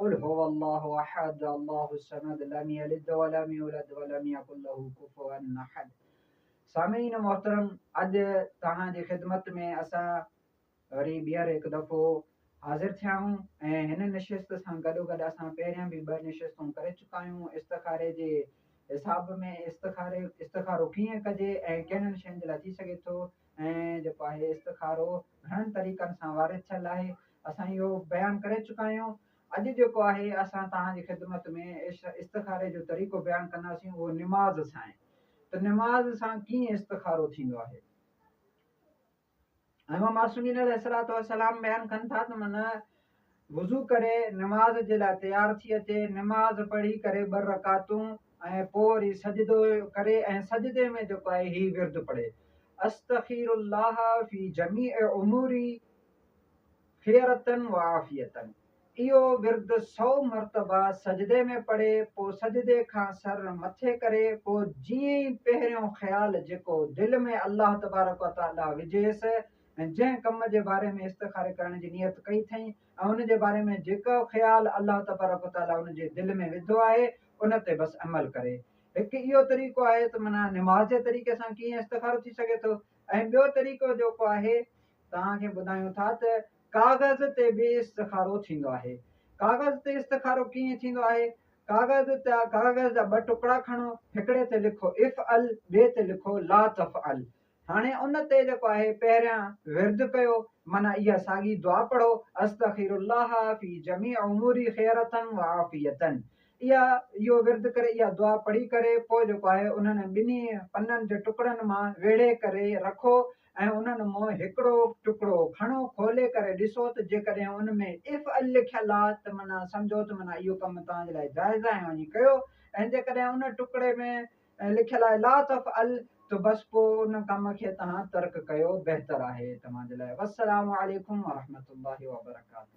قل هو الله احد الله الصمد لم يلد ولم يولد ولم يڪن له ڪفوا احد سامعين محترم اڄ توهان جي خدمت ۾ اسان وري ٻيهر هڪ دفعو حاضر ٿيا آهيون ۽ هن نشست سان گڏو گڏ اسان پهريان به ٻه نشستون ڪري چڪا آهيون استخاري جي حساب ۾ استخاري استخارو ڪيئن ڪجي ۽ ڪهڙن شين جي لاء ٿي سگهي ٿو ۽ جيڪو آهي استخارو گهڻن طريقن سان وارد ٿيل آهي، اسان اهو بيان ڪري چڪا آهيون، اڄ جيڪو آهي اسان توهان جي خدمت ۾ استخاري جو طريقو بيان ڪنداسين اهو نماز سانهي ته نماز سان ڪيئن استخارو ٿيندو آهي. امام معصومين عليه السلام بيان ڪن ٿا ته من وضو ڪري نماز جي لاء تيار ٿي اچي، نماز پڙهي ڪري ٻه رڪعتون ۽ پوء وري سجدو ڪري ۽ سجدي ۾ جيڪو آهي هي ورد پڙهي، استخير الله في جميع اموري خيرة وعافية اهو ورد سؤ مرتبه سجدي ۾ پڙهي، پوء سجدي کان سر مٿي ڪري، پوء جيئن ئي پهريون خيال جيڪو دل ۾ الله تبارڪ وتعاليٰ وجهيس ۽ جنهن ڪم جي باري ۾ استخاري ڪرڻ جي نيت ڪئي اٿئي ۽ ان جي باري ۾ جيڪو خيال الله تبارڪ و تعاليٰ ان جي دل ۾ وڌو آهي ان تي بس عمل ڪري. هڪ اهو طريقو آهي ته معنيٰ نماز جي طريقي سان ڪيئن استخارو ٿي سگهي ٿو ۽ ٻيو طريقو جيڪو آهي توهان کي ٻڌايون ٿا ته ڪاغذ تي به استخارو ٿيندو آهي. ڪاغذ تي استخارو ڪيئن ٿيندو آهي؟ ڪاغذ تي ڪاغذ جا ٻه ٽڪڙا کڻو، هڪڙي تي لکو افعل ٻئي تي لکو لا تفعل. هاڻي ان تي جيڪو آهي پهريان ورد ڪيو معنيٰ اها ساڳي دعا پڙهو، استخير الله في جميع اموري خيرة وعافية اها اهو ورد ڪري اها دعا پڙهي ڪري پوء جيڪو آهي انهن ٻنهي پنن جي ٽڪڙن مان ويڙهي ڪري رکو ۽ انهن مون هڪڙو ٽڪڙو کڻو کولي ڪري ڏسو ته جيڪڏهن ان ۾ اف عل لکيل آ ته معنيٰ سمجهو ته معنيٰ اهو ڪم توهان جي لاء جائز آ ۽ وڃي ڪيو ۽ جيڪڏهن ان ٽڪڙي ۾ ۽ لکيل آهي لا تفعل ته بس پوء ان ڪم کي توهان ترڪ ڪيو بهتر آهي توهان جي لاء والسلام عليڪم ورحمة الله وبرڪاته.